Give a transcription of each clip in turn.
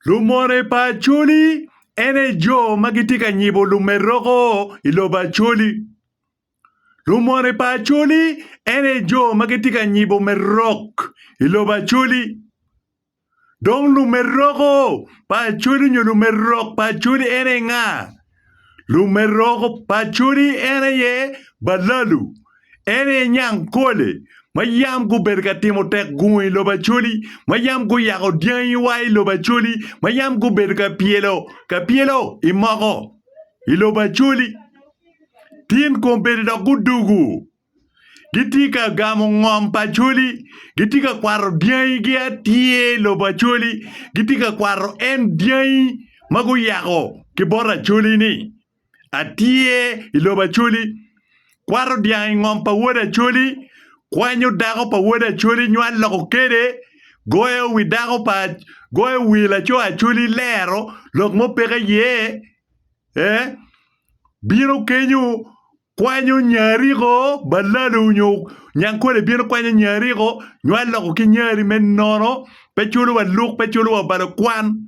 Lumone pa Acholi ene jo ma gitye ka nyibo lumeroko i lobo Acholi. Lumone pa Acholi ene jo ma gitye ka nyibo merok i lobo Acholi. Dong lumeroko pa Acholi nyo lumerok pa Acholi ene nga? Lumeroko paconi en aye Balalu, en aye nyang kole, ma yam gubedo ka timo tek gungo i lobo Acholi, ma yam guyako dyangiwa i lobo Acholi, ma yam gubedo ka pyelo ka pyelo i moko i lobo Acholi. Tin kombedo dok gudugu Gitye ka gamo ngom pa Acholi. Gitye ka kwato dyangigi atye i lobo Acholi. Gitye ka kwato en dyangi ma guyako ki bot Acholi-ni atye i lobo Acholi. Kwato dyang i ngom pa wod Acholi, kwanyo dako pa wod Acholi nywal loko kede, goyo wi dako pa goyo wi laco Acholi lero lok mo peke iye ee bino kenyo kwanyo nya ariko, balalo nyo nyankole bino kwanyo nya ariko, nyo aloko ki nya ari me nono, pe culo wa luk, pe culo wa obalo kwan.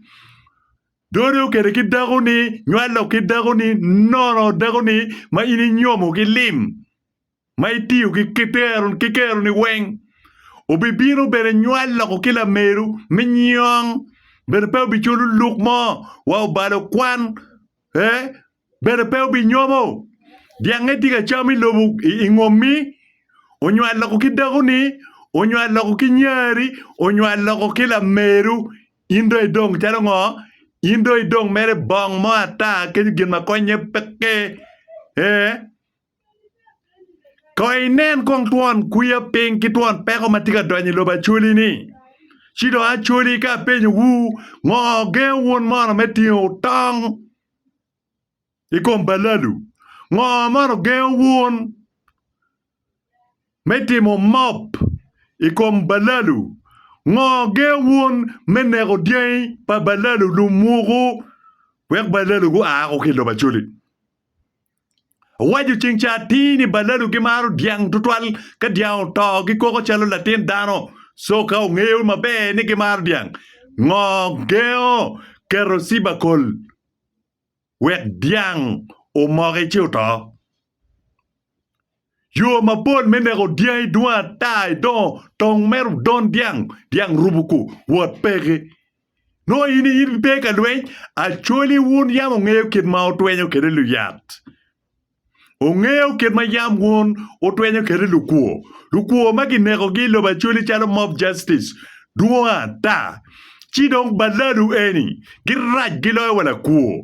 Dode okede ki dako ni, nyo alok ki dako ni, nono dako ni ma in inyomo ki lim, ma itiyo ki kitero, ki kero ni weng. Obibino bene nyo aloko ki lameru mi nyong, bene pe obiculo luk mo wa obalo kwan, eh, bene pe obinyomo. Dyangnge tye ka cam i lobo i ngommi, onywal loko ki dakoni, onywal loko ki nyari, onywal loko ki lameru. In dong idong calo ngo? In dong idong mere bong mo ata kenyo gin ma konnye peke. Ee, Kono inen kong twon kwiya piny ki twon peko ma tye ka donyo i lobo Acholi-ni. Ci dong Acholi ka apenyowu, ngo gengo wun mono me tingo tong i kom balalu? Ngo mono gengo wun me timo mop i kom balalu? Ngo gengo wun me neko dyangi pa balalu, lumwogo, wek balalu gua woko ki i lobo Acholi? Owaco ceng ca atir ni balalu gimaro dyang tutwal ka dyang oto gikoko calo latin dano so ka ongeyo maber ni gimaro dyang ngo gengo keto cibakol wek dyang omoki ci oto. Yo mapol me neko dyangi dwong ata i dongo tong meru don dyang, dyang rubu ku wot peke. Nongo in in pe ka lweny, acholi wun yam ongeyo kit ma otwenyo kede luyat. Ongeyo kit ma yam wun otwenyo kede lukwo, lukwo ma kinekogi i lobo acholi calo mob justice dwong ata. Ci dong baladu eni girac giloyo wa lakwo.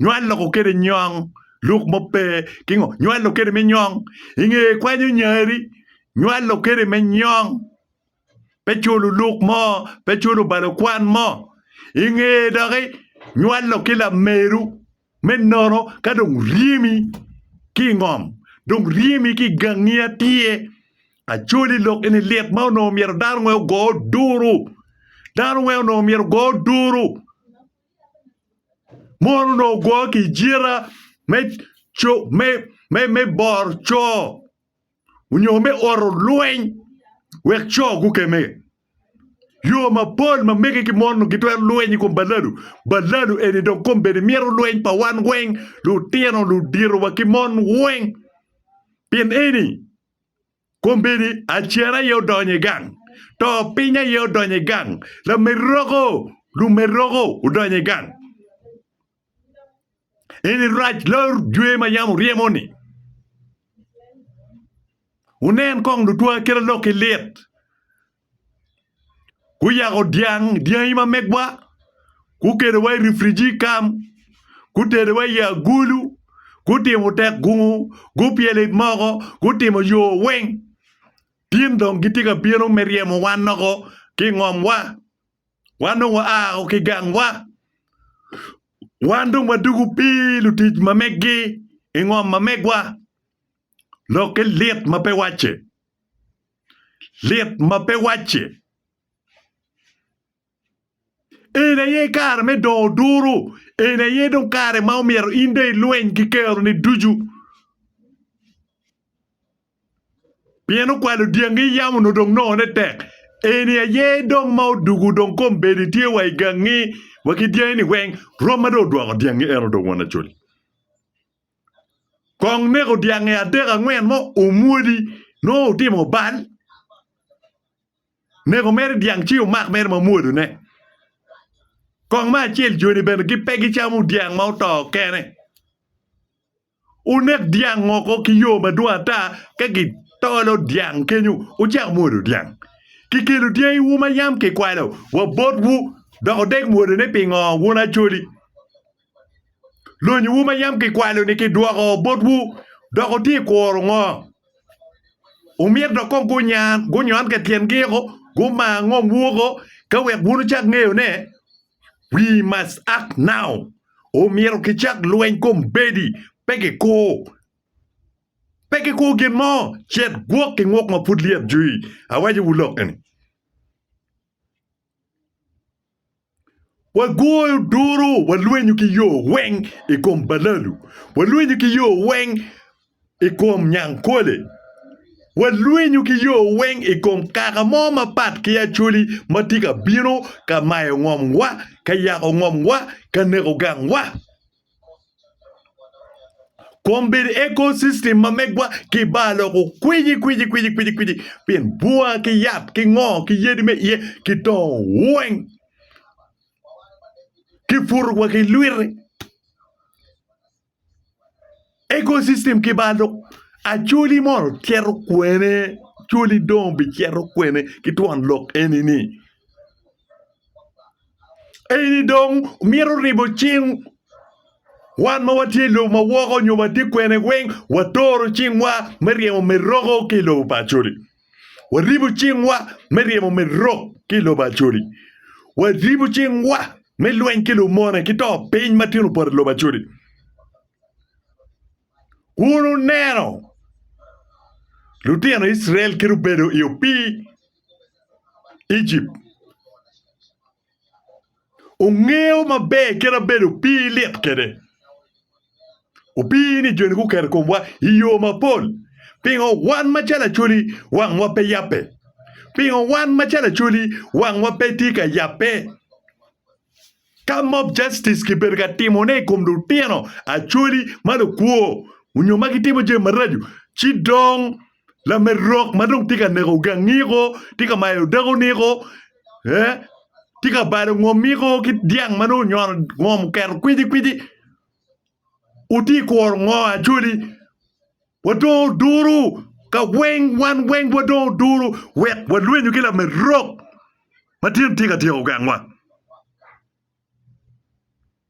nyo aloko kede nyong luk mo pe kingo nyo alok kede me nyong inge kwanyo nyari nyo alok kede me nyong pe culo luk mo pe culo balo kwan mo inge doki nyo alok ki lameru me nono ka dong ryemi ki ngom dong ryemi ki gangi atye acoli lok eni lit ma onongo myero dano weng ogo duru dano weng onongo myero ogo duru Mon onongo gwo ki i jita me co me me boro co onyo me oro lweny wek co gukeme yo mapol ma mege ki mon onongo gitwero lweny i kom balado, balado eni dong kombeddi mito lweny pa wan weng lutino ludito wa ki mon weng pien eni Kombeddi acer aye odonyo i gang, to piny aye odonyo i gang, lameroko, lumeroko odonyo i gang. Eni rac lor jwe ma yam wuryemo-ni. Wunen kong lutwa kit alokki lit, guyako dyang dyangi ma megwa gukelowa i rifriji i kam gutedowa i agulu gutimo tek gungo gupyelo i moko gutimo yo weng tin dong gitye ka bino me ryemo wan loko ki i ngomwa wan dong waa o ki i gangwa wan dong wadwogo pii lutic ma megi i ngom ma megwa lokke lit ma pe wacce. lit ma pe wacce. Eni aye kare me dongo duru, eni aye dong kare ma omyero in dong ilweny ki keroni ducu. Pien okwalo dyangi yam onongo dong nongone tek. Eni aye dong ma odugo dong kombeddi tye wa i gangi wa ki dyangini weng, rwom ma dong odwoko dyangi en dong won acoli. Kong neko dyangi adek angwen mo omwodi nongo otimo bal neko mere dyang ci omak mere ma omwodo ne kong me acel joni bene gi pe gi camo dyang ma oto kene wunek dyang oko ki yo madwong ata ka gi tolo dyang kenyo wucako mwodo dyang ki kelo dyangi wu ma yam ki kwalo wa bot wu dok odek mwodone pingo wun acholi. Lonyowu ma yam kikwalo-ni kidwoko botwu, dok wutye i kuro ngo? Wumito dok kong gunyan, gunyon ka i tyen giko, gumar ngomwu woko, ka wek wun wucak ngeyo ne? We must act now! Omyero kicak lweny kombeddi, pe kikur. Pe kikur gin mo, cet gwok ki nguk ma pud lyet jwi. Awacowu lok-ki-ni. Wagoyo duru, walwenyo ki yo weng i kom balalu, walwenyo ki yo weng i kom nyangkole, walwenyo ki yo weng i kom kaka mo mapat ki Acholi ma tye ka bino ka mayo ngomwa, ka yako ngomwa, ka neko gangwa. Kom bedo ecosystem ma megwa kibalo kukwici kwici kwici kwici kwici pien bwa ki yat ki ngo ki yadi me iye kidongo weng kiputo wa ki lwite. Ecosystem kibalo Acholi mono cito kwene? Acholi dong bicito kwene ki twon lok eni-ni? Eni dong mito ribo cing wan ma watye i lobo ma woko nyo watye kwene weng watoro cingwa me ryemo meroko ki i lobo pa Acholi. Waribo cingwa me ryemo merok ki i lobo Acholi. Waribo cingwa me lweny ki lumone ki to piny ma tyen opot i lobo Acholi. Wun wuneno lutino Icrael kit obedo i opii Ejipt, wungeyo maber kit abedo opii lit kwede. Opii-ni joni guketo i komwa i yo mapol. Pingo wan macalo Acholi wangwa pe yabbe? Pingo wan macalo Acholi wangwa pe tye ka yabbe? Ka mob justice kibedo ka timone i kom lutino Acholi ma lukwo onyo ma gitimo jami maraco, ci dong lamed rok ma dong tye ka neko gangiko, tye ka mayo dako niko, eh, tye ka balo ngom niko ki dyang ma nongo onyono ngom oketo kwicikwici, wutye ka kuro ngo Acholi? Wadong oduru ka weng, wan weng wadong oduru wek walwenyu ki lamed rok ma tyen tye ka tyeko gangwa.